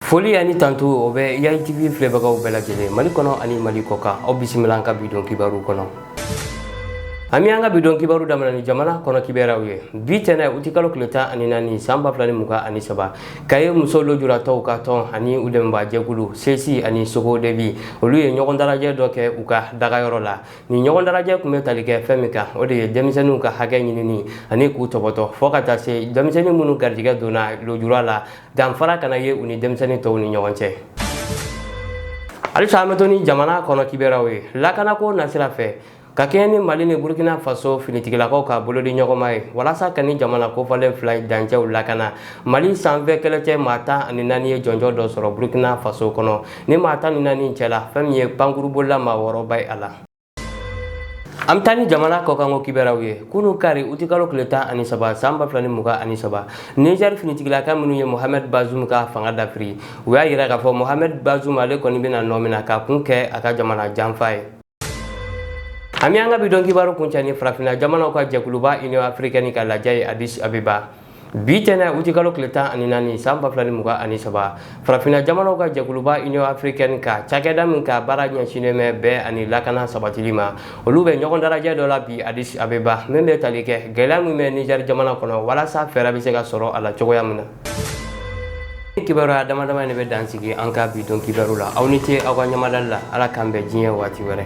foli ani tando o bɛ yayi tv filɛbagaw bɛɛ lajɛlen mali kɔnɔ ani mali kɔkan aw bisimila an ka bidon kibaru kɔnɔ an bɛ an ka bidon kibaru daminɛ ni jamana kɔnɔ kibaruyaw ye bi tɛnɛ uti kalo tile tan ani naani san ba fila ni mugan ani saba kayi muso lojuratɔw ka tɔn ani u dɛmɛbaa jɛkulu sesi ani socodevi olu ye ɲɔgɔn dalajɛ dɔ kɛ u ka dagayɔrɔ la nin ɲɔgɔn dalajɛ tun bɛ tali kɛ fɛn min kan o de ye denmisɛnninw ka hakɛ ɲinini ani k'u tɔbɔtɔ fɔɔ ka taa se denmisɛnnin minnu garijɛgɛ donna lojura la danfara kana ye u ni denmisɛnnin tɔw ni ɲɔgɔn cɛ halisa an bɛ to ni jamana kɔnɔ kibaruyaw ye lakanako nasira fɛ ka kɛɲɛ ni mali ni burkina faso finitigilakaw ka bolodiɲɔgɔnma ye walasa ka nin jamana kofɔlen fila dancɛw lakana mali sanfɛ kɛlɛcɛ maa tan ani naani ye jɔnjɔn dɔ sɔrɔ burkina faso kɔnɔ nin maa tan ni naani cɛla fɛn min ye pankurunbolila maa wɔɔrɔ bɛ ye a la an bɛ taa ni jamana kɔkanko kibaruyaw ye kunu kari utikalo tile tan ani saba san ba fila ni mugan ani saba nizɛri finitigilaka minnu ye mohamed bazum ka fanga dafiri u y'a yira k'a fɔ mohamed bazum ale kɔni bɛna nɔmina k'a kun kɛ a ka jamana janfa ye an bɛ an ka bidon kibaru kuncɛ ni farafinna jamanaw ka jɛkuluba union africaine ka lajɛ ye addis abeba bi tɛnɛ utikalo tile tan ani naani san ba fila ni mugan ani saba farafinna jamanaw ka jɛkuluba union africaine ka cakɛda min ka baara ɲɛsinnen bɛ bɛn ani lakana sabatili ma olu bɛ ɲɔgɔn dalajɛ dɔ la bi addis abeba min bɛ tali kɛ gɛlɛya min bɛ niger jamana kɔnɔ walasa fɛɛrɛ bɛ se ka sɔrɔ a la cogoya min na nin kibaruya damadama de bɛ dansigi an ka bidon kibaru la aw ni ce aw ka ɲamadali la ala k'an bɛn diɲɛ waati wɛrɛ